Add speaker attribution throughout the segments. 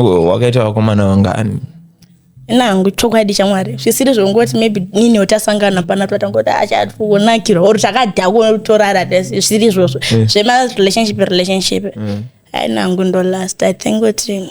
Speaker 1: wakaita vakomana vangani nangu
Speaker 2: chokwadi chamwari zvisiri zvongoti maybe nini otasangana pana twatangoti achaonakirwa ah, or takadhako torara zvisiri izvozvo eh. zvemarelationship relationship eh. ainangu ndo last i think kuti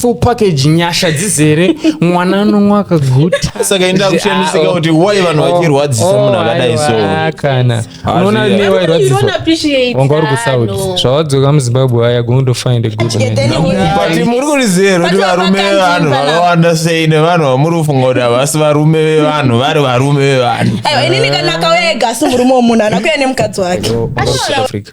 Speaker 3: full package nyasha dzizere mwana anonwa akaguta saka enda kushamisika
Speaker 1: kuti why vanhu vachirwadzisa Oh, munhu akadai so aiwa, kana Ah,
Speaker 3: unoona zviya. ne wairwadziswa wanga uri kusaudi zvawadzoka muzimbabwe waya going to find a good man but muri kurizero
Speaker 1: kuti But varume vakanzi vevanhu pana- vakawanda sei nevanhu vamuri kufunga kuti havasi varume vevanhu vari varume vevanhu aiwa inini kana akauya
Speaker 2: ega asi murume womunhu anakuya nemukadzi wake South Africa.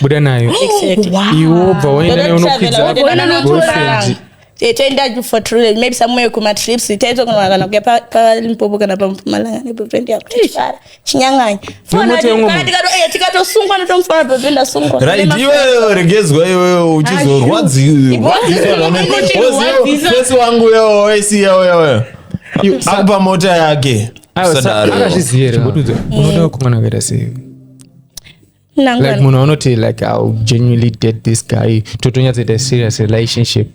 Speaker 3: buda
Speaker 2: nayo
Speaker 3: iwe
Speaker 2: obva waenda nayo unokwidza toenda for truly maybe somewhere kumatrips taitokona kana kuya palimpopo kana pampumalanga neboyfriend yako tichifara chinyanganya tikatosungwa ndotomufara boyfriend asungwa right iweyo
Speaker 1: regedzwa iweyo uchizorwadziwazisi wangu uyo waisiya uyo uyo akupa mota yake akazviziva
Speaker 3: here kuti unoda kumwana kuita sei like munhu anoti like ill genuinely date this guy totonyatsoita serious relationship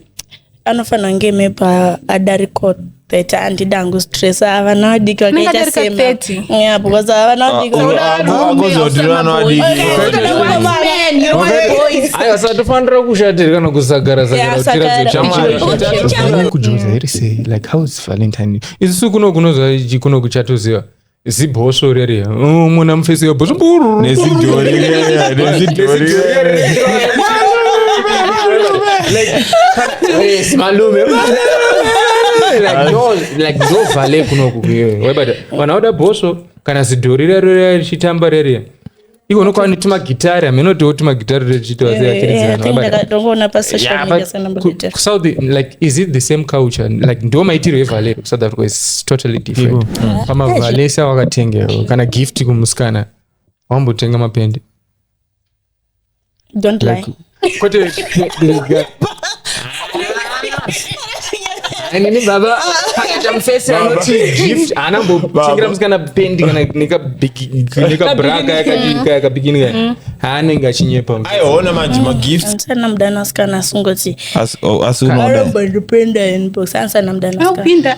Speaker 3: anofanira
Speaker 2: kunge maybe adariko that handidi hangu stress avana vadiki vakaita sema because avana
Speaker 3: vadikitofanira kushatira kana kusagara sagarakujoza here sei like how is valentine isusu kuno kunozokunokuchatoziva zibhosvo rere oh, mona mufesi webhosvo nezidhori
Speaker 1: rere nezidhori rere
Speaker 3: malume ndovale kunoku vanhu vauda bhosvo kana zidhori rero richitamba rere Iko unokuwa netumagitari hameno tiwo tumagitari tochiitwa sei achiridzaanongoona pasocial media sanambuta kusouth like is it the same culture like ndiwo maitiro evalero kusouth africa is totally different mm. pamavalesa wakatengerwa kana gift kumusikana wambotenga mapende
Speaker 2: don't lie Like, kwete
Speaker 3: kuregera Anini baba akaita mufesi Baba. anoti gift haana Baba. mbotengira musikana pendi kana nekabraka yakabikini kaya haanenge achinyepa aiona manje magifts
Speaker 1: ansana mudana sikana
Speaker 2: asingoti Asi- oh, asi unoda aromba ndipenda
Speaker 1: inbox ansana mudana sikana
Speaker 2: akupinda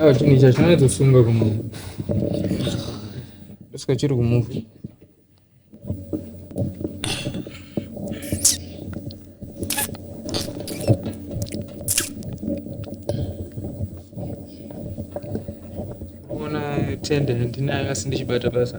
Speaker 3: Ah, chinhu ichi hachinatsosunga kumunhu ndosika chiri kumuva ona tende handinayo asi ndichibata basa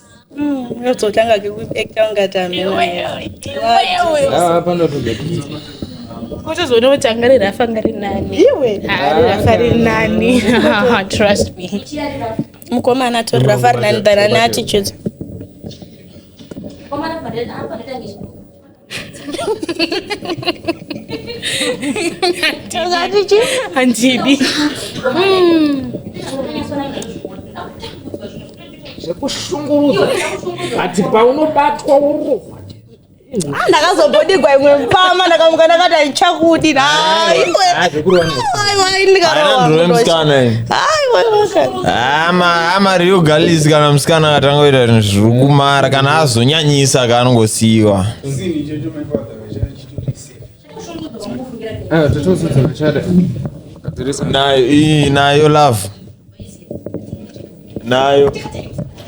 Speaker 2: Unototanga mm, kekuekta ungati
Speaker 3: amenoapanotozokutizoona
Speaker 4: kuti anga riri afa nga ri nani iwe ari rafa ri nani trust me mukomana
Speaker 2: atori rafa ri nani than ane attitude
Speaker 4: handidi
Speaker 3: zvekushungurudza ati paunobatwa urohwa Ah, ndakazobodigwa
Speaker 2: imwe mpama ndakamuka ndakati aichakudi naiwe aiwa ndikarowa
Speaker 1: aiwa amari ah, yogalisi kana musikana atangoita zvinhu zviri kumara kana azonyanyisa kaanongosiyiwa ah, nayo love nayo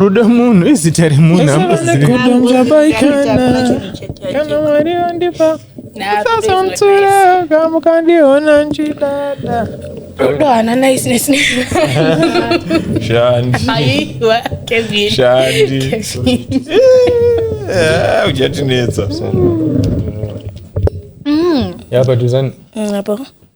Speaker 3: rudo munhu izita remunhu kana
Speaker 1: mwari vandipa sasamtsura kamukandiona nchidada rudo hana
Speaker 4: naisnesne
Speaker 1: uchatinetsa
Speaker 3: yapaduzani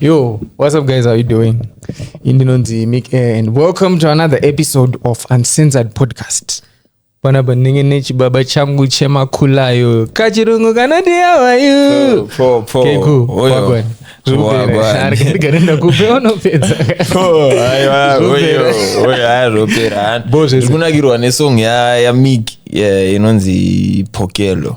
Speaker 3: Yo, what's up, guys? How you doing? Indinonzi Mick, eh, and welcome to another episode of Uncensored Podcast. panapa ndinenge nechibaba changu chemakulayo kachirungu kanoti yavayu kekuagandigare ndakupe unopedza
Speaker 1: bo zvekunakirwa nesong yamik inonzi pokelo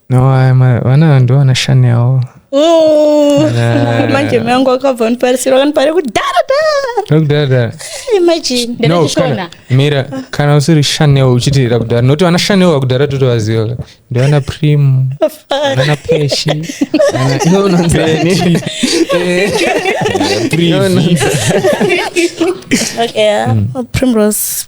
Speaker 4: no
Speaker 3: vana ndo vanashani yavo
Speaker 2: manje mangu akabva niparisira kanipare kudharadhara mira
Speaker 3: kana usiri chanel uchitirira kudhara nokuti vana chanel vakudhara totovaziva ndivana prim vana peshi primrose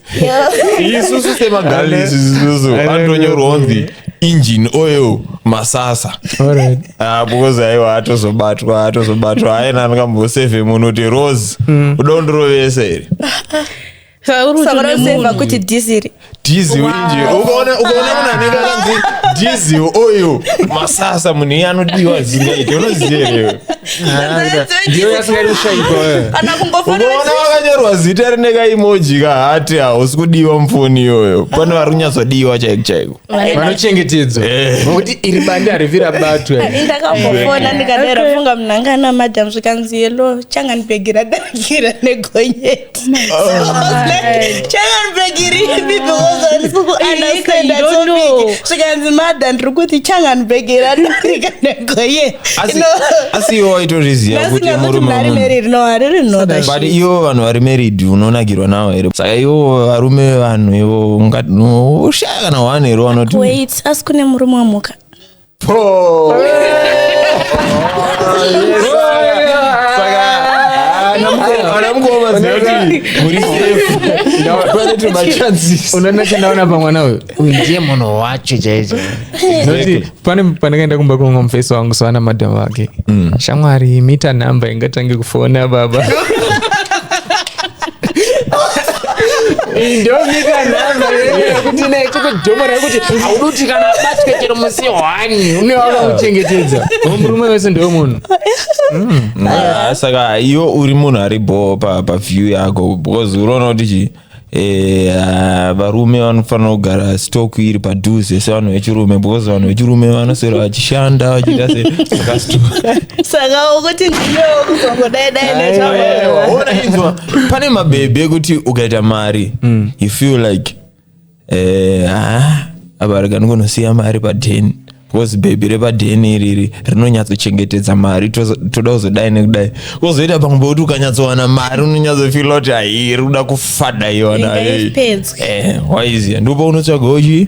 Speaker 1: isusu semagalisi isusu antonyorwa onzi engine oil masasa Alright. Ah, because aiwa atozobatwa atozobatwa aina angambosefe munhu kuti rose uda kundirovesa here Saka uri saka kutune unoseva
Speaker 2: munhu. kuti dhisiri diesel engine
Speaker 1: ukaona ukaona munhu anenge akanzi diesel oil masasa munhu iye anodiwa zingaiti unoziva here iwe?
Speaker 3: ndiyo yasingaiti kushaikwa eh. kana kungofanira unoona
Speaker 1: wakanyorwa zita rine kaimoji kahati hausi kudiwa mufoni iyoyo pane vari kunyatsodiwa chaiko chaiko vanochengetedzwa
Speaker 3: Eh. nokuti iri bande harivira batwe Ini ndakambofona
Speaker 2: ndikadera funga mnangana madam zvikanzi yelo changa ndibhegi radangira negonyeti zvikanzi madha ndiri kuti changanbegeri anorika negoye asi
Speaker 1: iwo waitozviziva kuti murumebut iwo vanhu vari married unonakirwa nawo here saka iwo varume vevanhu ivo ushaya kana one here wanotiasi kune
Speaker 2: murume wamuka
Speaker 3: Poo! unoona chandawona pamwana uyu uyu ndiye munhu wacho chaicho noti pane pandakaenda kumba kwanga mufesi wangu soana madham vake shamwari mita number ingatange kufona baba ndomita nhamba yekuti naye chikudhomora yekuti hauduti kana abatwe chero musi hwani une wakamuchengetedza murume wese ndewe munhu mm. ah, saka
Speaker 1: iwe uri munhu ari bhoo paview yako because unoona kuti chii Eh, ah, varume vanofanira kugara stock iri padhuze sevanhu vechirume because vanhu vechirume vanoswera vachishanda vachiita se saka ukuti
Speaker 2: pane
Speaker 1: mabhebhi ekuti ukaita mari mm. you feel like eh, ah, abarika ndikonosiya mari padheni because bhebhi repadheni iriri rinonyatsochengetedza mari toda kuzodai nekudai kozoita pamwe pekuti ukanyatsowana mari unonyatsofila kuti hairi kuda kufada iyonawaizia eh, ndipo unotsvaga uchii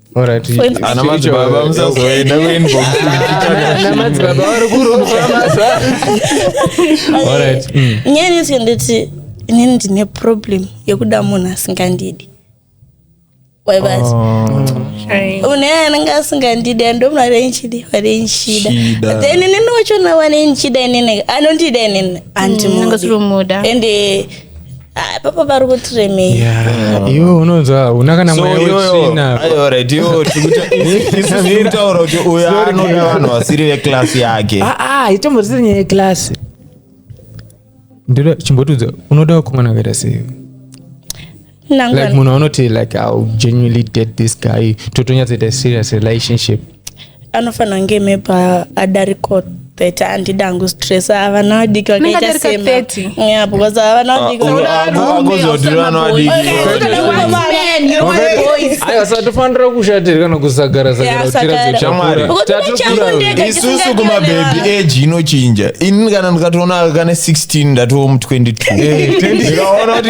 Speaker 2: Alright, For
Speaker 1: instance- Ana madzibaba musazoenda kuinbox Ana
Speaker 3: madzibaba vari kurova masa. Alright,
Speaker 2: mm. nyaya neti nditi inini ndine problem yekuda munhu asingandidi waivati Shame. une anenge asingandidi andomuna renchidi varenchida Chida. then inini wachona wanenchida inini anondida inini andimudi Ndingasiri kumuda. ende Ah, papa vari kuti remei Yeah, iwe
Speaker 3: unonzwa una kana So mweya iyoyo- wetsvina ayo, alright, iyoyo tikuta- isu
Speaker 1: tiri kutaura kuti uyo anoda vanhu vasiri veklasi yake Ah, ah, itomborisiri nyaya
Speaker 3: yeklasi ndoda chimbotiudza unoda vakomana vakaita sei like munhu anoti like ill genuinely date this guy totonyatsoita serious relationship anofanira
Speaker 2: kunge maybe adariko 30 handidi hangu stress avana vadiki vakaita sema because avana
Speaker 3: vadikitofanira kushatira kana kusagara sagaraisusu
Speaker 1: kumabhebhi age inochinja ini kana ndikatoona kane 16 ndatoo mu 22 ndikaona kuti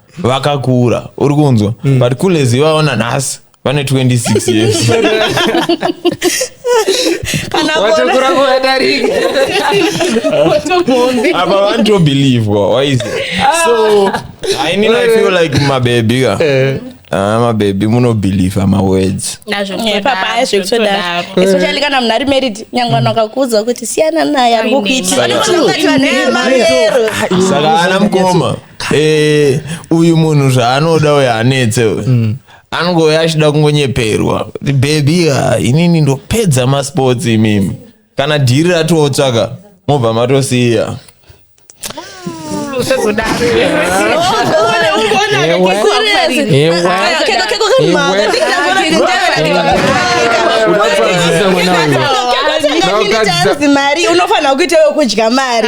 Speaker 1: vakakura uri kunzwa mm. but kulezi vaona nhasi vane 26
Speaker 3: years
Speaker 1: apa vanitobelievwa waize so ainini i feel like mabebi ka eh. Ah, mabebi munobhilivha mawords papai
Speaker 2: zvekutodaro especially kana munhu ari married nyangwe vanhu vakakuudza kuti siyana naye ari kukuitisaka
Speaker 1: ana mukoma Eh, uyu munhu zvaanoda uyu anetse uyu mm. anongove achida kungonyeperwa kuti bebi ha inini ndopedza masports imimi kana dhiri ratootsvaka mobva matosiya
Speaker 2: mari unofanira kuita wekudya mari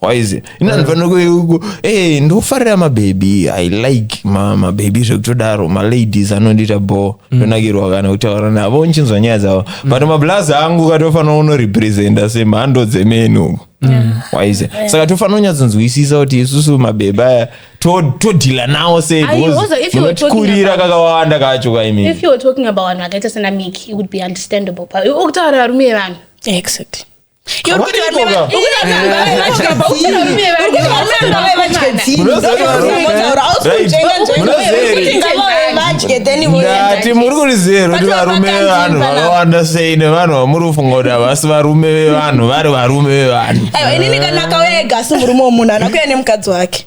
Speaker 1: waiziva ini vanhu vanoku e ndofarira mabhebhi i like ma- mabhebhi zvekutodaro maladies anondiita bho ndonakirwa kana kutaura navo ndichinzwa nyaya dzavo but mablazi angu katofanira unorepresenta semhando dzemeni uku waiziva saka tofanira kunyatsonzwisisa kuti isusu mabhebhi aya to- todhila nawo sei Ayi, because also if you were talking munotikurira about- kakawanda kacho kaimini if you were talking about vanhu
Speaker 4: vakaita sana miki it would be understandable but ukutaura varume vanhu exactly
Speaker 1: ndati muri kurizero kuti varume vevanhu vakawanda sei nevanhu vamuri kufunga kuti havasi varume vevanhu vari varume vevanhu inini kana akauya
Speaker 2: ega asi murume womunhu anakuya nemukadzi wake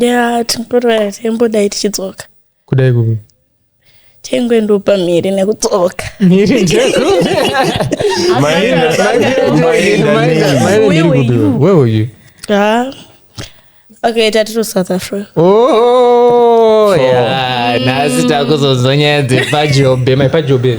Speaker 3: ya tingotoya
Speaker 2: taimbodai tichidzoka kudai kupi
Speaker 3: taingoendopa
Speaker 2: mhiri nekudzoka mhiri
Speaker 3: ndekupi where were you ah okay
Speaker 2: tati to south africa oh
Speaker 3: yeah nhasi takuzonzwa nyaya dzepajobe my pajobe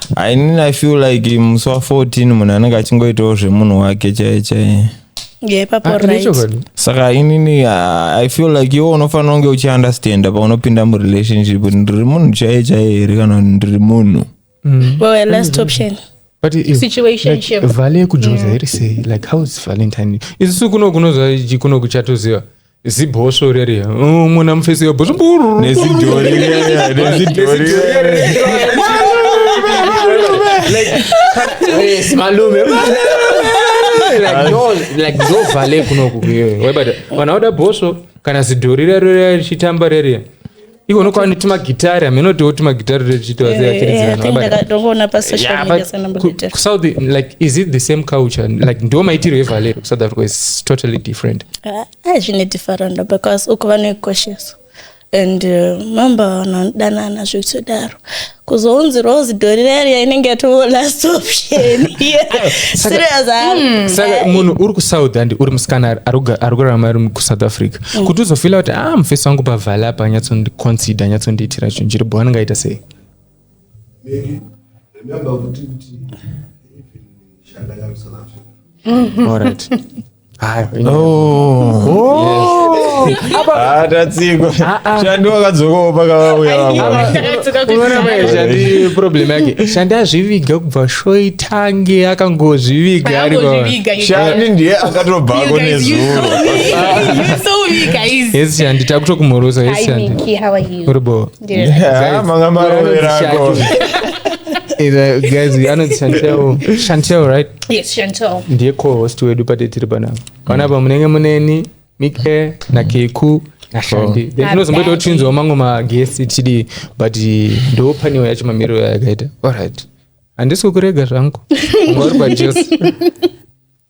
Speaker 1: I mean, I feel like musi wa 14 munhu anenge achingoitawo zvemunhu wake chaiye chaiye yeah papo Ah,
Speaker 2: right nechokwadi. saka inini
Speaker 1: ah, i feel like iwe unofanira kunge uchiunderstanda paunopinda murelationship kuti ndiri munhu chaiye chaiye here kana kuti ndiri munhu Mm. well a last
Speaker 2: option But i- Situationship.
Speaker 3: like,
Speaker 4: vale yekujoza
Speaker 3: iri sei like how is valentine isusu kuno kunozva kuno kuchatoziva zibhosvo riri oh, muna mufesi webhosvo nezidhori
Speaker 1: nezidhori
Speaker 3: malume ndovale kunoku vanhu vauda bhosvo kana zidhori rero richitamba reriya iko unokuva netumagitari hamenotiwo tumagitari tochiitwa seachiridziranoona eh,
Speaker 2: pasocialmediasanambokusaudi eh, like is
Speaker 3: it the same culture like ndiwo maitiro evalero kusouth africa is totally
Speaker 2: different ah, ah,
Speaker 3: zvine
Speaker 2: different
Speaker 3: because
Speaker 2: uko
Speaker 3: vanoikoshesa
Speaker 2: and uh, mambo vanodanana zvekutodaro uh, kuzonzi rose dorireria inenge yatoo last option saka mm. munhu uri kusouth
Speaker 3: and uri musikana ari kurarama ari kusouth africa mm. kuti uzofila kuti a ah, mufesi wangu pavhale apa anyatsondiconsider anyatsondiitira chinhu chiripo wanangaita sei mm. All right.
Speaker 1: Ah, tatsikwa shandi wakadzokawo pakavauya vamweshandi
Speaker 3: problem yake shandi azviviga kubva shoitange akangozviviga arishandi
Speaker 1: ndiye akatobvako nezuro
Speaker 3: yes shandi takutokumhorosa yes shandi uri boo Yeah, manga
Speaker 1: marovera ako. Eh,
Speaker 3: the guys we anoti chantel chantel right Yes, Chantel.
Speaker 4: ndiye co-host wedu
Speaker 3: pate tiri panapa panapa munenge muneni mike nakeku nashandi then Ah, tinozomboita kuti Daddy. tinzwa mamwe maguest tichidii but ndo panewo yacho mamiriro yayakaita alright handisi kukurega zvangu unga uri pajesu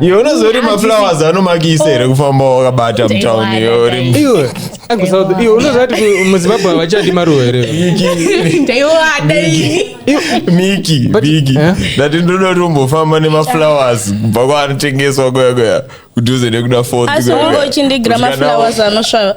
Speaker 1: iwe unozori maflowers anomakisa here kufamba wakabata mutown iwe iwe
Speaker 3: akusouth iwe unozati muzimbabwe havachadi maruwa here
Speaker 1: miki miki eh? ndati ndoda tombofamba nemaflowers kubva kwaanotengeswa kuya kuya kudhuze nekuda fourth asi ungoichindigira
Speaker 2: maflowers anosvava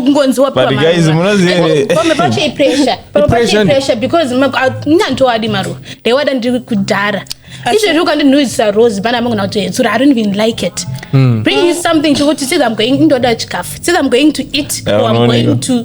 Speaker 2: kungonziwa but guys munozive pamwe pacho
Speaker 4: ipressure pamwe pacho ipressure because ndandowadi maruva ndaiwada ndiri kudhara izvezvi ukandinhuisa rose pana mangona kuti hetsura i don't even like it hmm. bring you something chokuti since i'm going ndoda chikafu since i'm going to eat or i'm going to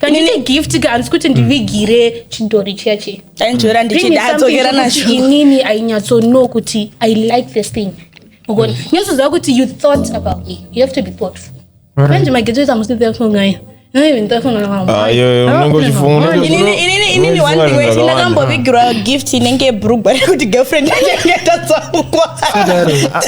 Speaker 4: kanine gift ka handisi kuti ndivigire chidhori chiya chiya ainzvera ndichida
Speaker 2: adzokera nacho inini ainyatsono
Speaker 4: kuti i like this thing ugona nyatsoziva kuti you thought about me you have to be thoughtful manje mageto ita musi thoughtful ngayo inini one
Speaker 2: thing wese ndakambovigirwa gift inenge brugwa rekuti girlfriend yake yatatsaukwaa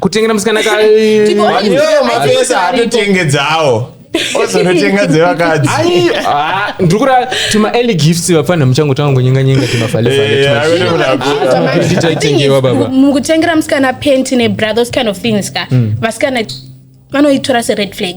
Speaker 3: kutengera musikana ka Ndipo Vanhu Ai, ivo
Speaker 1: mapesa ai, haatotenge dzawo ozonotenga dzevakadzi Ai, ah, ndiri
Speaker 3: kurara tuma early gifts vapfanha muchangotanga kunyenga nyenga Eh, timafalefale akuti munakura. Ah, Manje, Titai I think tengewa, it's- baba. mukutengera musikana
Speaker 4: penti nebra those kind of things ka vasikana vanoitora sered flag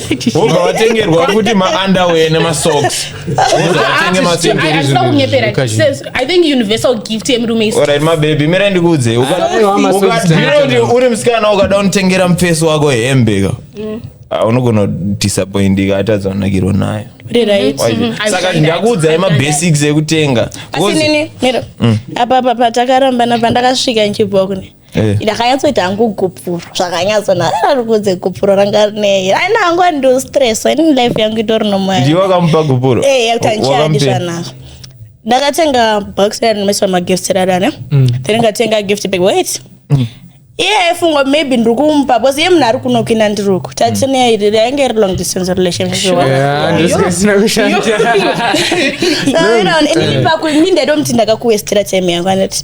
Speaker 1: vobva vatengerwa futi maunderwear nemasocks vatenge masindoda
Speaker 4: kunyepera i think universal gift yemurume isirit mabebi mira
Speaker 1: ndikuudzei ukadhiroti uri musikana ukada unotengera mufesi wako hembe ka mm. ah, unogona disappointika atadza kunakirwa nayo mm-hmm. saka ndakuudzai mabasics ekutenga mm.
Speaker 2: apapa patakarambana pandakasvika nchibhokune Eh. ndakanyatsoita hangu gupuro zvakanyatsona rarikudze gupuro ranga rinei aina hangu andistress ini life yangu itori nomoya ndiwe wakamupa gupuro
Speaker 1: Eh, yakuti handichadi Wakamupei?
Speaker 2: zvanaka ndakatenga box ranomiswa magift rarane Mm. then ndikatenga gift bag wait iye aifunga maybe ndiri kumupa bcause iye munhu ari kuno kuina ndiri uku tatineya iri rainge iri long distance relationship Yeah, ndosaka zvisina kushanda. Saka unoona, ini pakuti ndaitomuti ndakakuwestira time yangu anoti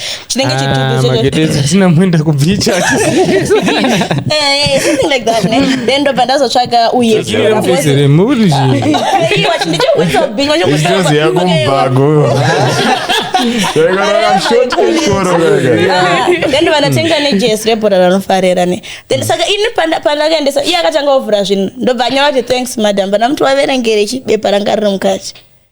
Speaker 2: chinenge chitubu Ah, magete edu tina muenda
Speaker 3: kubhicha Eh, eh,
Speaker 2: something like that ne then ndobva ndazotsvaga uye mupese remuri zvinhu Iwa, chindichikuisa big, wachikuisa- Ijozi yako mubhago. Yakarara short koro kaka. Ah, then vanatenga nejesi rebhora ranofarira ne then saka ini panda- pandakaendesa iye akatanga ovhura zvinhu ndobva anyora kuti thanks madam vana muti waverengere chibepa ranga riri mukati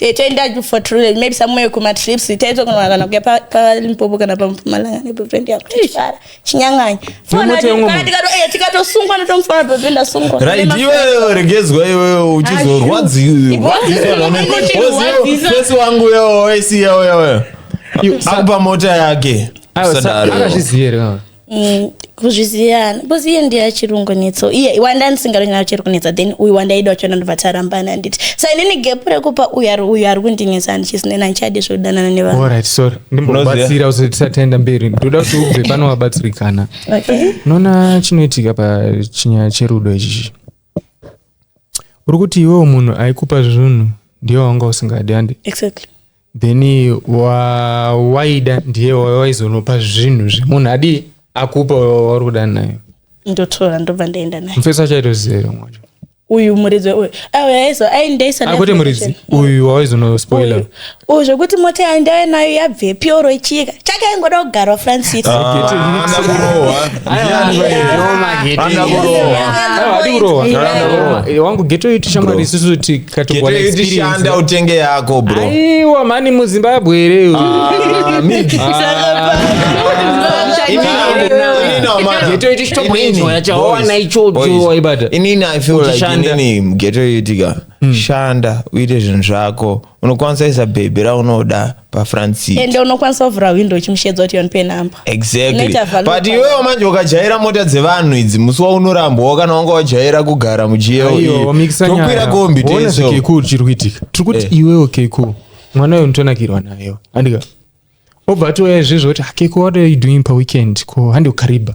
Speaker 3: Eh, toenda
Speaker 2: for true maybe somewhere kuma trips taitokonwa kana kuya palimpopo kana pampumalanga neboyfriend yangu tichifara chinyanganya tikatosungwa ndotomufara boyfriend asungwa right iweyo
Speaker 1: regedzwa iweyo uchizorwadziwfesi wangu yo waisiya uya uya akupa mota
Speaker 3: yake
Speaker 1: akazviziva here Mm,
Speaker 2: kuzviziva because iye ndiye achirungu netso iye wanda ndisingaronyana uchiri kunetsa then uyu wandaida wacho ndobva tarambana handiti so inini gap rekupa uyu ari uyu ari kundinetsa handichisnena handichadi zvekudanana nevanhu Alright, sorry.
Speaker 3: ndimbobatsira kuti tisataenda mberi ndoda kuti ubve pano wabatsirikana okay unoona chinoitika pachinyaya cherudo ichichi uri kuti iwewo munhu aikupa zvinhu ndiye wanga usingadi handi exactly
Speaker 2: then
Speaker 3: waida ndiye waizonopa zvinhu zvemunhu adii akupa wauri kuda nayo ndotora ndobva
Speaker 2: ndaenda naye mufesi achaitoziva here
Speaker 3: mwacho uyu
Speaker 2: muridzi uyu aizo aindaisa
Speaker 3: akuti muridzi uyu waizonospoiler uyu zvekuti
Speaker 2: mota yaindave nayo yabvepi oro ichiyika chake aingoda kugarwa francis
Speaker 3: wangu geto iti shamwari isusu katikuonexperienceishanda
Speaker 1: utenge yako bro aiwa mani
Speaker 3: muzimbabwe here
Speaker 1: inini i feel like inini geto yetika shanda uite zvinhu zvako unokwanisa isa bhebhi raunoda pafransit ende unokwanisa kuvhura
Speaker 2: hwindo uchimushedza kuti yonipe number exactly Unoita value
Speaker 1: but power. iwewo manje ukajaira mota dzevanhu idzi musi waunorambwawo kana wanga wajaira kugara mujiyo Aiyo, mikisa nyaya. tokwira kombi Waona teso zvikeku chiri kuitika
Speaker 3: tiri kuti Eh. iwewo keku mwana uyo unotonakirwa nayo handika obva atouya izvezvo kuti "Ah, keku what are you doing paweekend ko handi ukariba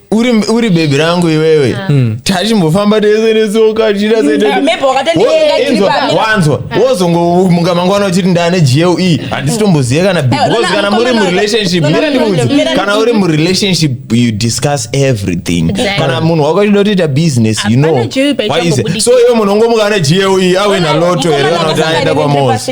Speaker 3: uri
Speaker 1: uri bebi rangu iwewe hmm. tachimbofamba tese netsoka tichiawanzwa wozongomuka mangwana uchiti ndane gle handisitombozive kana because kana muri murelationship mira ndikuudzi kana uri murelationship you discuss everything kana munhu wako achida kutoita business you know why is it so iwe munhu ongomuka ane gle awe naloto here kana kuti aenda kwamosi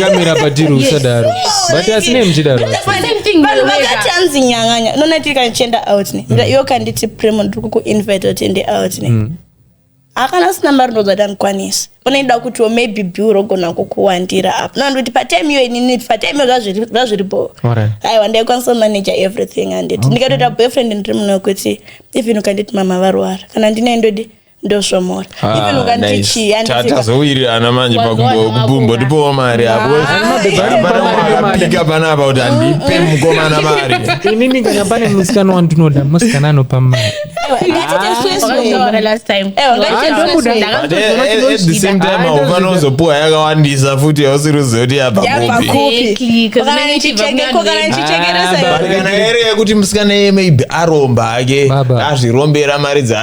Speaker 3: kamera patiri usadaro but asine muchidaro vanhu
Speaker 2: vakati hanzi nyanganya nonati kanichienda out ne mm. iwo kanditi primo ndiri kukuinvite kuti ende out ne mm. akana asina mari ndozati andikwanisi unoida kutiwo maybe bill rogona kukuwandira apo nondoti patime iyo inini patime iyo zvazviripo aiwa ndaikwanisa manager everything anditi ndikatoita boyfriend ndiri muno kuti even ukanditi mama varwara kana ndinendodi ndosvomora ah, even ukanditi chii tazowirirana
Speaker 1: manje pakumbotipowo mari apoapika panapa kuti andipe mukomana mari inini kana pane
Speaker 3: musikana wandinoda musikana anopa
Speaker 1: mari ufanozopuwa yakawandisa futi yausiri uziva kuti yapakupikanakana yere yekuti musikana yeye maybe aromba ake azvirombera mari dza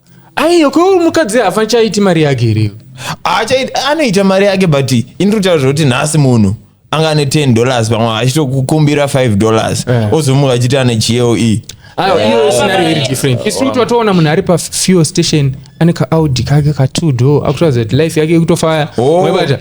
Speaker 1: aiyo
Speaker 3: ko mukadzi hafa chaiti mari yake here anoita
Speaker 1: mari yake but indirikutaura zvekuti nhasi munhu anga ane 10 dollars pamwe achitokukumbira 5 dollars eh. ozomuka achiti ane gle
Speaker 3: twatoona munhu ari pafuel station ane kaaudi kake katwo do akutadza kuti life yake ikutofaya oh.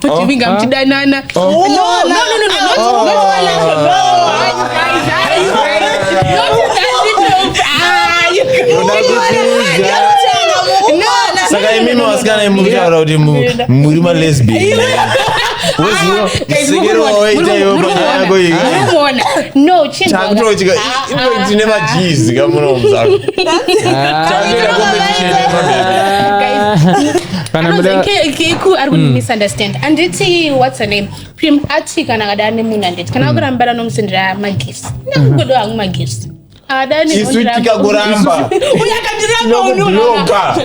Speaker 4: tochivinga oh. muchidanana oh.
Speaker 1: saka imimi vasikana imuri kutaura kuti muri malesbian tine majizi kamunomuzakutoita competition kana Anonzi muda
Speaker 4: ke- keku ari kundimisunderstand anditi whats her name prim ati kana akada ane munhu anditi kana akurambana nomusendera magifts ndakungodo hangu magifts isu tikakuramba
Speaker 1: uya akandiramba
Speaker 4: Tinokubloka.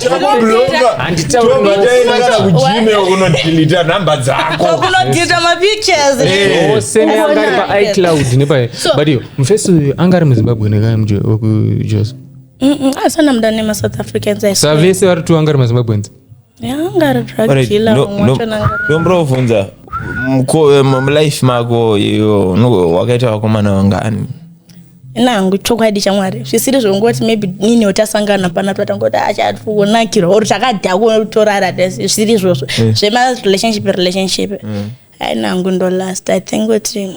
Speaker 1: Tinokubloka. Handitauri Tobva no. taenda kana kugmail unodilita nhamba dzako kunodhita
Speaker 2: mapictures Eh. ose neanga ari
Speaker 3: paicloud nepaye So- but iyo mufesi uyu anga ari muzimbabwe nekai muje wekujos asana
Speaker 2: muda nemasouth africans savese vari two angari
Speaker 3: mazimbabweans
Speaker 2: ndomborovhunza
Speaker 1: mulife mako iyo wakaita vakomana vangani nangu
Speaker 2: chokwadi chamwari zvisiri zvongoti maybe nini otasangana pana twatangoti achaonakirwa ah, or takadhako torara tese zvisiri izvozvo eh. zvemarelationship relationship mm. ainangu ndolast i think kuti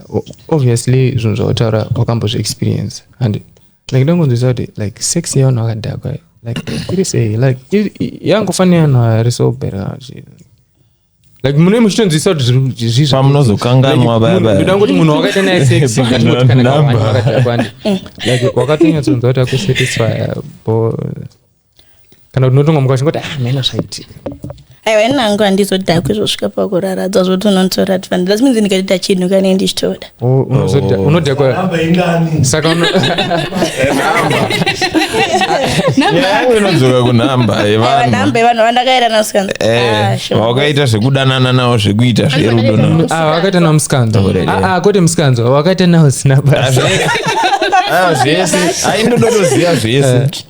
Speaker 3: obviously zvinhu zvautaura wakambozvi experience and like ndongonzwisa kuti like sex yevanhu vakadhakwa like iri sei like yangofanira yanhu ari sober like mune muchitonzwisa kuti zvipamunozokanganwa
Speaker 1: babandoda kuti munhu wakaita naye
Speaker 3: sexwakatonyatsoonza kuti akusatisfya bo kana kuti unotonga muka uchingoti ah mena zvaitika aiwa ini
Speaker 2: hangu handizodhakwi zvosvika pakuraradzwa zvoti unotora advantage that means ndikatoita chinhu kanei ndichitoda Oh, unozoda- unodhakwa
Speaker 3: Hamba ingani. saka uno-
Speaker 1: nyaya yangu inodzoka kunhamba Aiwa, yevanhu nhamba yevanhu
Speaker 2: vandakairana siyana Ah, Eh, sure. vawakaita
Speaker 1: zvekudanana nawo zvekuita zverudo nawo Ah, wakaita nawo musikanzwa
Speaker 3: Already. Ah, ah, kwete musikanzwa wakaita nawo zina basa Ah,
Speaker 1: zvese aindodotoziva zvese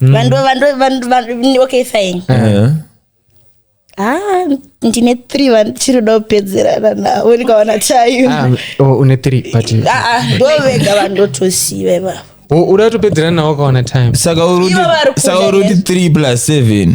Speaker 2: Mm. vanhu vanhu- vanhu- vanhu- okay fine Eh. ah ndine three vandichiri kuda kupedzerana navo ndikaona time Ah, oh, une three
Speaker 3: but Ah, ah, ndovega
Speaker 2: vandotoziva ivavo Oh, uda kutopedzerana
Speaker 3: nawo ukaona time saka uri Ivo vari kuti-
Speaker 1: kuda saka uri kuti 3 plus 7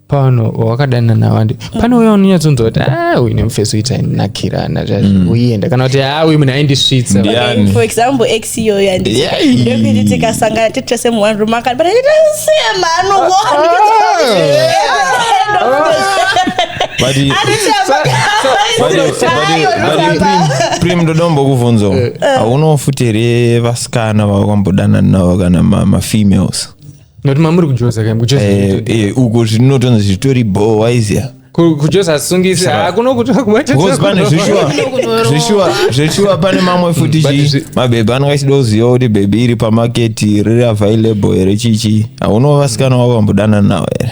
Speaker 3: pano wakadanana wandi pane uya unonyatsonzwa kuti ah uyu nemufesi uita nakirana zvazvikuenda kana kuti ah uyu munhu aindisvitsa Ndiani? Okay, for example
Speaker 2: ex iyoyo yandi- Yeah. ndokuti tikasangana tiri tese mu one room akati but I didn't see a man who But
Speaker 1: he- but he- but he- but he- Prim- prim ndodombo kuvhunza haunawo futi here vasikana vakambodanana navo kana ma- mafemales nokuti mamuri
Speaker 3: kujoza kaim kujoza Eh, eh, uko
Speaker 1: zvinotonzi zvitori bhoo waizia Ku- kujoza
Speaker 3: asungisi hakuno kuti vakubata because pane
Speaker 1: zveshuwa zveshuwa zveshuwa pane mamwe futi But chi zvi- mabhebhi anenge achida kuziva kuti bhebhi iri pamaketi riri available here chichi hauno vasikana wavo vambodanana navo here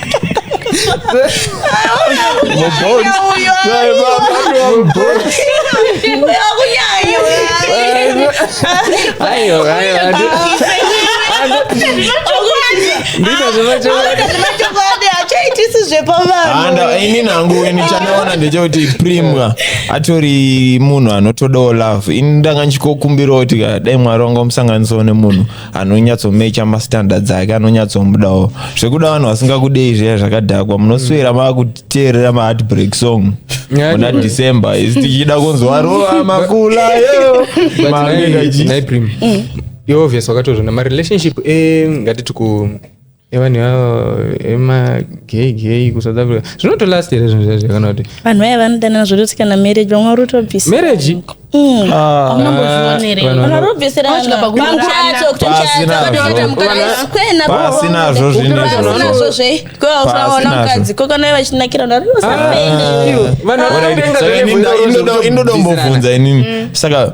Speaker 2: Ayo,
Speaker 1: ayo, ayo. chokwadi hachaitisi zvepavanhu Anda- ini nangu ini chandaona ndechekuti primwa atori munhu anotodawo love ini ndanga ndichikokumbirawo kuti ka, dai mwari wangamusanganisawo nemunhu anonyatsomecha mastandards ake anonyatsomudawo zvekuda vanhu vasingakudei zviya zvakadhakwa munoswera maakuteerera maheartbreak song muna december isi tichida kunzwa rova makula yo But Maanenge nai- achi- nai
Speaker 3: Prim, iwe obvious wakatozvona marelationship eh, ngatiti ku evanhu ivavo emageygeyi kusouth africa zvinotolast here zvinhu zvacho kana kuti vanhu vaya vanodanana
Speaker 2: zvototi kana marriage vamwe vari kutobvisa marriage
Speaker 3: Mm. Ah.
Speaker 1: pasinazvo zvinazvo zvekwaonamukadzi
Speaker 2: kokanai vachinakira ndarinosainoda
Speaker 1: ah. kumbobvunza inini mm. saka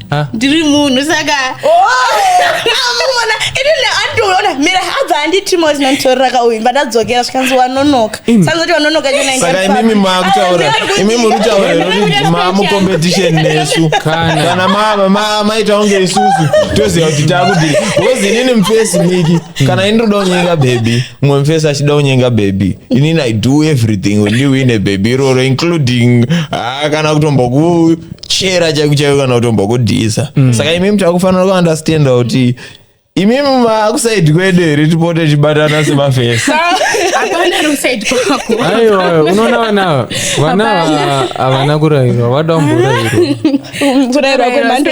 Speaker 4: ndiri munhu saka amona oh!
Speaker 2: inini andiona mira abva anditimo zinanditorera kauyu mba ndadzokera zvikanzi wanonoka sanzoti wanonoka saka imimi
Speaker 1: makutaura imi muri kutaura mamucompetition nesu kana maita kunge isusu toziva kuti takudii bcause inini mufesi miki kana ini ndoda kunyenga bhebhi mumwe mufesi achida kunyenga bhebhi inini i do everything wendiwine bhebhi iroro including ah, kana kutomboku chera chaiku chaiku kana kutombo kudhisa mm. saka imimi takufanira kuunderstanda kuti imimi maakusaidi kwedu here tipote chibatana semafesi
Speaker 3: aiwa unoona vana vana havana kurairwa vada kumborairwa kurairwa kwemhando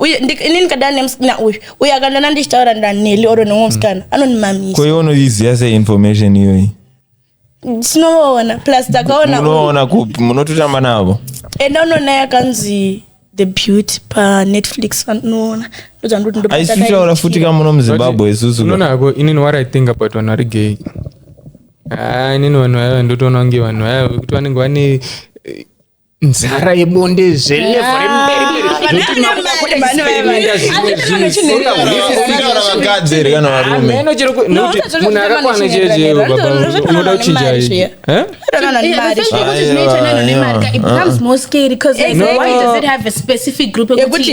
Speaker 2: uye ini ndikadana nemusikana uyu uye akandana ndichitaura naneli oro nomwe musikana mm. anondimamisa koiwe unoiziva sei
Speaker 1: information iyoyi
Speaker 2: tinoona plus takaonaona kupi munototamba
Speaker 1: navo enda unoona
Speaker 2: yakanzi the beauty panetflix vanoona ndoaisitaura
Speaker 1: futi ka muno muzimbabwe isusuonako inini what i
Speaker 3: think about vanhu vari gay ah, inini vanhu vaya ndotoona kunge vanhu vaya vekuti vanenge vane nzara yebonde zvelevo
Speaker 1: remberemunhu akakwana
Speaker 3: cheeoda kuchinja yekuti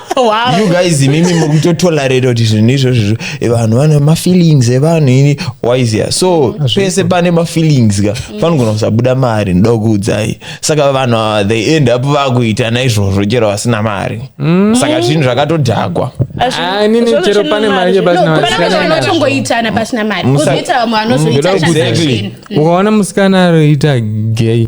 Speaker 1: wow. you guys imimi mukutotolerate kuti zvinhu izvozvo vanhu vane mafeelings evanhu ini wise so pese pane mafeelings ka panogona kusabuda mari ndoda kuudzai saka vanhu ava they end up vakuita naizvozvo chero vasina mari mm. saka zvinhu zvakatodhakwa ah, inini
Speaker 3: chero pane mari chebasinaotongoitana
Speaker 4: pasina mari kozoita vamwe vanozoita ukaona
Speaker 3: musikana aroita gay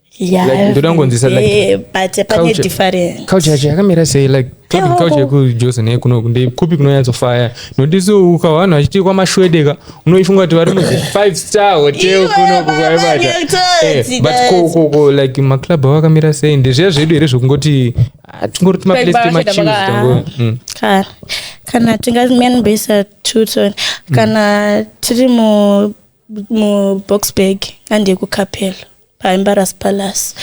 Speaker 3: yakuti
Speaker 2: yakamira sei
Speaker 3: like kauch yekujose nekuno ndekupi kunonyatsofaya notisi ukavanhu vachitii kwamashwedeka unoifunga kuti vari muzi five star hotel kunoku kwaibata eh, but kokoko like maclub avo akamira sei ndezviya zvedu here zvekungoti ah, tingori timaplestemachimztango mm.
Speaker 2: kana tingamanbesa tuton mm. kana tiri muboxburg andekukapelo paembarrass palace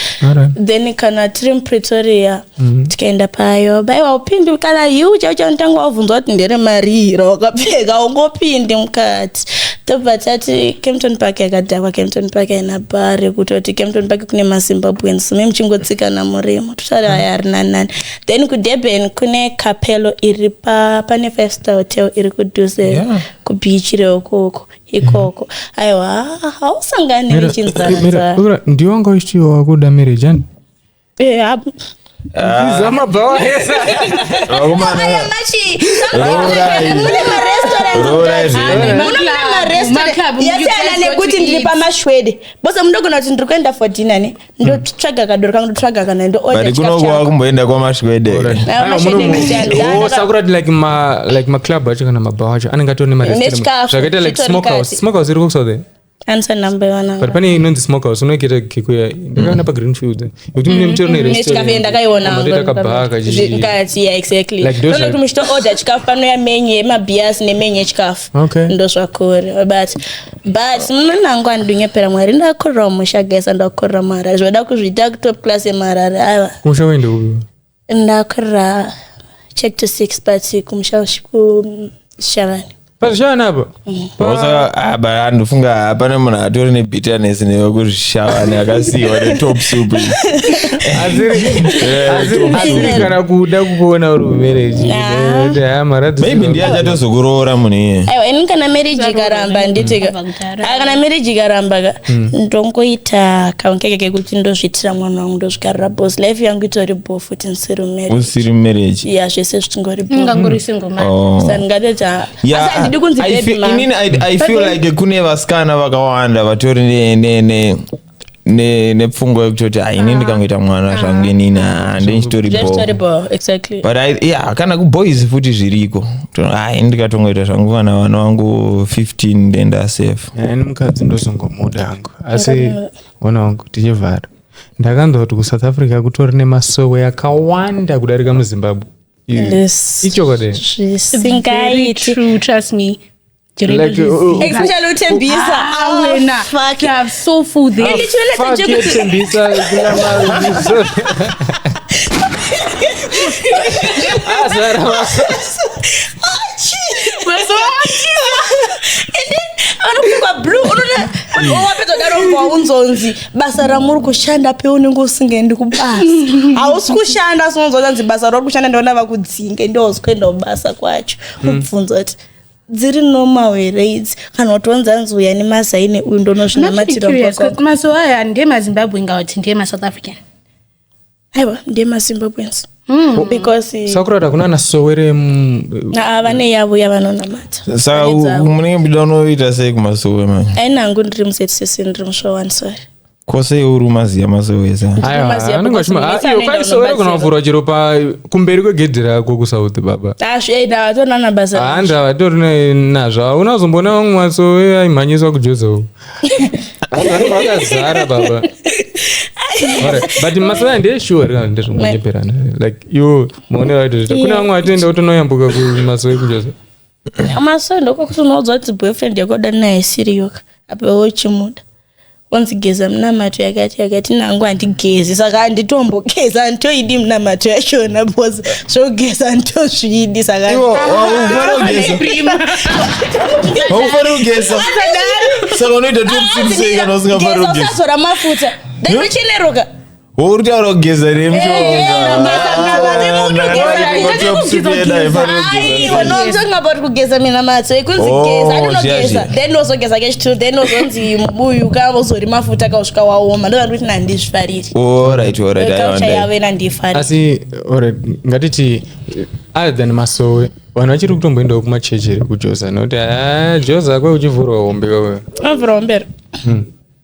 Speaker 2: then kana tiri mupretoria mhm. tikaenda payo baiwa upindi kana iu chaicho anotanga wabvunzwa kuti ndere marii rawakapfeka ungopindi mukati tobva tati campton park yakadhakwa campton park aina bha rekutoti campton park kune mazimbabweans me muchingotsikana murimo totari aya arina nani then kudurban kune capelo iri pane five star hotel iri kudhuze kubichi reokoko ikoko aiwa hausangani nechinzara ndiyo wanga
Speaker 3: uchitiwo wakuda marriage ani marestorantmunemarestorantmunemarestorant
Speaker 2: yasiyana nekuti ndiri pamashwede bose munogona kuti ndiri kuenda for dinner ne ndotsvaga kadoro kangu ndotsvaga kana ndoorder chikafu changu vakumboenda
Speaker 1: kwamasvwede
Speaker 3: sakurati like ma like maclub acho kana mabhawa acho anenge atone marestrauntazvakaita like smokehouse smokehouse iri kukusa there answer number
Speaker 2: one but pane inonzi smokehouse
Speaker 3: unoikita kikuya ndakaona pa green field yekuti mune mutero nerestaurant ndakaiona matoita kabhaa
Speaker 2: kachii
Speaker 3: kati yeah exactly
Speaker 2: like those like muchito order chikafu pano ya menu yema beers ne menu yechikafu okay ndosvakore but but munana wangu andinyepera mwari ndakorera musha gesa ndakorera maharare zvoda kuzviita kutop class yemaharare ava musha wende upi
Speaker 3: ndakorera
Speaker 2: check to six but kumusha kushavani pazvishavani
Speaker 3: apa mm.
Speaker 1: ah, ndofunga hapana munhu atori nebitterness newe kuzvishavani akasiiwa netop soup
Speaker 3: kana kuda kukuona uri mumarriage
Speaker 1: maybe ndiye achatozokuroora munhu iye aiwa ini kana marriage
Speaker 2: ikara amba nditi ka- Ah, kana marriage ikaramba ka ndongoita kaunkeke kekuti ndozviitira mwana wangu ndozvikarira bos life yangu itori bo futi ndisiri marriage usiri
Speaker 1: marriage ya zvese zvichingori
Speaker 2: bo ungangori single
Speaker 4: man Oh. sandingateta Yeah, asi
Speaker 2: handidi kunzi I baby feel- mama. inini
Speaker 1: I- i feel like kune vasikana vakawanda vatori ne- ne- ne- ne- nepfungwa yekutoti "Ah, ini ndikangoita mwana zvangu inini ah, ndinchitori bho Zvitoribo, exactly. but I,
Speaker 2: yeah, kana
Speaker 1: kuboys futi zviriko To- ah, ini ndikatongoita zvangu vana vana vangu 15 ndenda safe ani mukadzi
Speaker 3: ndozongomuda hangu asi ona wangu tichivhara ndakanzwa kuti kusouth africa kutori nemasowe akawanda kudarika muzimbabwe Yes. ichokwadi It's very
Speaker 4: zvisingaiti true, trust me. Like, uh, uh,
Speaker 2: Especially uThembisa awena. Fuck.
Speaker 4: They have so full there. And
Speaker 3: literally at the fuck job- you, Tembisa. Ah,
Speaker 2: Zara, anopfekwa blue unoda wapedzodaro kwaunzonzi basa ramuri kushanda pe unenge usingaendi kubasa hausi kushanda asi unonzwa kuti anzi basa rauri kushanda ndiona vakudzinge ndoozikuenda kubasa kwacho ubvunza kuti dziri normal here idzi kana kuti onzi anzi uya nemazaine uyu ndonozvinamatiramazuva aya
Speaker 4: handiye mazimbabwe inga kuti ndiye masouth african aiwa
Speaker 2: ndiye mazimbabwens Hmm. Oh, eh, sakurara kuna ana
Speaker 3: sowere mm, ah, vane
Speaker 2: yavo yavanonamata saka munenge
Speaker 1: muchida unoita sei kumasowe manje ainangu ndiri muzetisi
Speaker 2: ndiri mushowansori ko sei uri
Speaker 1: umaziya masowesa Aiwa, Maziya anenge because achima- mese ah, iyo anoenda kwai sowero
Speaker 3: kunobatsira. kana kuvhura chero pa kumberi kwegedhi rako kusouth baba asviaida vatonana
Speaker 2: basa handi havatori ne-
Speaker 3: nazvo hauna kuzomboona vamwe masowe aimhanyiswa kujoza uku vanhu vakazara baba Alright, but masowe aya ndeyeshuwa rega ndezvongonyeperana like iwo maone vaitoita kune vamwe vatoenda votonoyambuka kumasowe kujoza masowe
Speaker 2: ndokokuti unoudzwa kuti boyfriend yakoda naye siriyoka apewo uchimuda onzi geza minamato yakati yakati nangu handigezi saka handitombogeza handitoidi minamato yachona bcause zvogeza handitozviidi sakaaufaniri
Speaker 1: kugeza saka unoita tiusiikanausingafaniri kugeza mafuta
Speaker 2: dai ucheneruka uri kutaura
Speaker 1: kugeza here mshongaunonzonga
Speaker 2: about kugeza minamato ikunzi Oh, geza zviya, ndinogeza zviya. then wozogeza kechitu then wozonzi mubuyu ka wozori mafuta kausvika waoma ndozvati kuti nandizvifariri orit orit kaucha yavo ena ndiifariri asi alright,
Speaker 3: ngatiti eh, other than masowe vanhu vachiri kutomboendawo kumachechi here kujoza nokuti ah, joza kwe uchivhurwa hombe wewe avhura ombera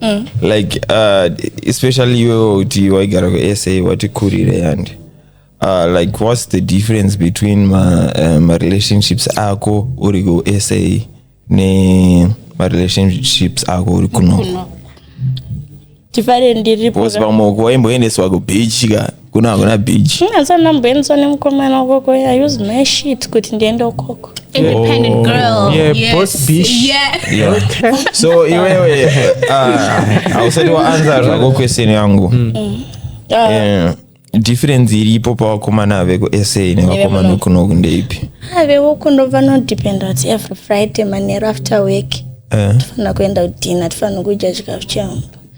Speaker 1: mm. like uh, especially iwewo kuti waigara kusa wati kurire yandi Uh, like what's the difference between ma, uh, ma relationships ako uri kusa ne ma relationships ako uri kunoko tifare
Speaker 2: ndiripo vamwe waimboendeswa
Speaker 1: kubeach ka kuna hakuna beach asana ndamboendeswa
Speaker 2: nemukomana ukoko i use my shit kuti ndiende ukoko independent oh. girl
Speaker 4: yeah, yes. boss bitch
Speaker 3: yeah. yeah. okay.
Speaker 1: so iwewe hausati uh, waanza zvako question yangu mm. Mm. Uh, yeah difference iripo pavakomana vekusa nevakomana vekunoku ndeipi ah, vevokuno
Speaker 2: vanodependa kuti every friday manero after work eh. tofanira kuenda kudina tofanira kudya chikafu chemba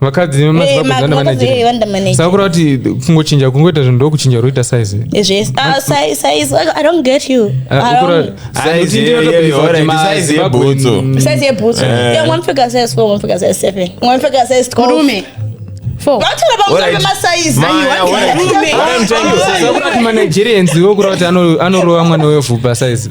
Speaker 3: vakadzi vemazivakuzandamanejasakura eh, kuti kungochinja kungoita zvinhu ndokuchinja roita size manigerians wokura kuti anorova mwana wevhupa size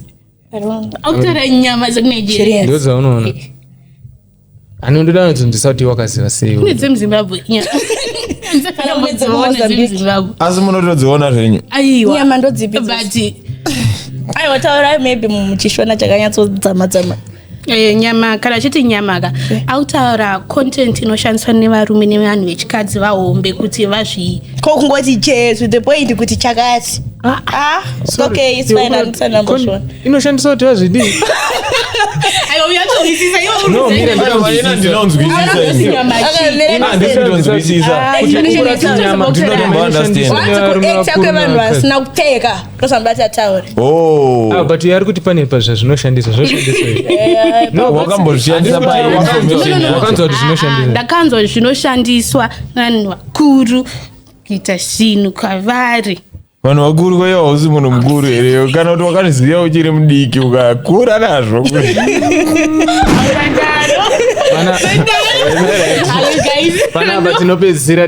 Speaker 4: akutora nyama dzekunigeria ndo dzaunoona
Speaker 3: ani ndoda kuti ndisati wakaziva sei kune dzemuzimbabwe
Speaker 4: dzemuzimbabwe
Speaker 1: asi munotodziona zvenyu aiwa nyama ndodzipi
Speaker 2: but aiwa taurai maybe muchishona chakanyatsodzama dzama Eh, nyama
Speaker 4: kana chiti nyama ka eh. autaura content inoshandiswa nevarume nevanhu vechikadzi vahombe kuti vazvii ko kungoti jesu
Speaker 2: the point kuti chakati ah, ah, inoshandiswa kuti
Speaker 3: vazvidii
Speaker 4: kwevanhu
Speaker 2: vasina kupfeka ndozvandati ataure oh.
Speaker 3: ah, but ari kuti pane zvazvinoshandisa zvoshandisaawakanzwa
Speaker 4: kuti zvinoshandisa ndakanzwa zvinoshandiswa vanhu vakuru kuita zvinhu kwavari vanhu
Speaker 1: vakuru kwaiva hausi munhu mukuru here kana kuti wakanoziva uchiri mudiki ukakura nazvo
Speaker 3: panapa tinopedzisira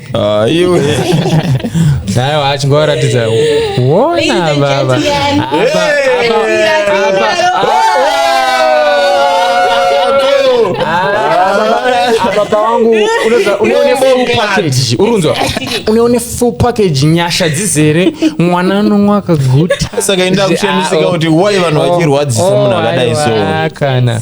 Speaker 1: Ah, iwe
Speaker 3: naye achingoratidza wona baba baba wangu uneone full package urunzwa uneone full package nyasha dzizere mwana anonwa akaguta saka inda kushandisika
Speaker 1: kuti why vanhu vachirwadzisa munhu akadai so kana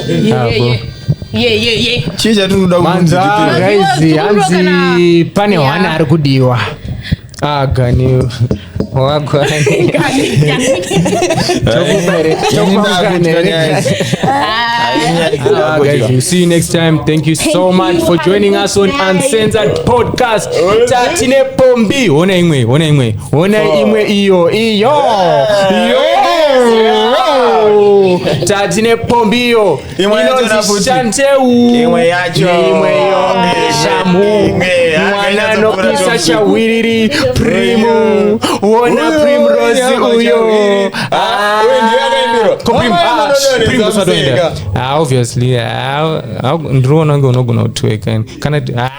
Speaker 1: chii chatinoda Manza, kumunzikira guys, Mazuva
Speaker 3: hanzi tikuroka pane Yeah. hwana ari kudiwa Ah, gani wagwa Ah, guys, we'll see you next time. Thank you so much for joining us on Uncensored Podcast. Tatine Pombi. Ona imwe, ona imwe. Hona oh. imwe iyo iyo tati nepombi iyo inonzi shanteu imwe yacho imwe iyo shamu mwana anopisa chahwiriri primu wona primrose uyo ndiriona kunge unogona kutweka kana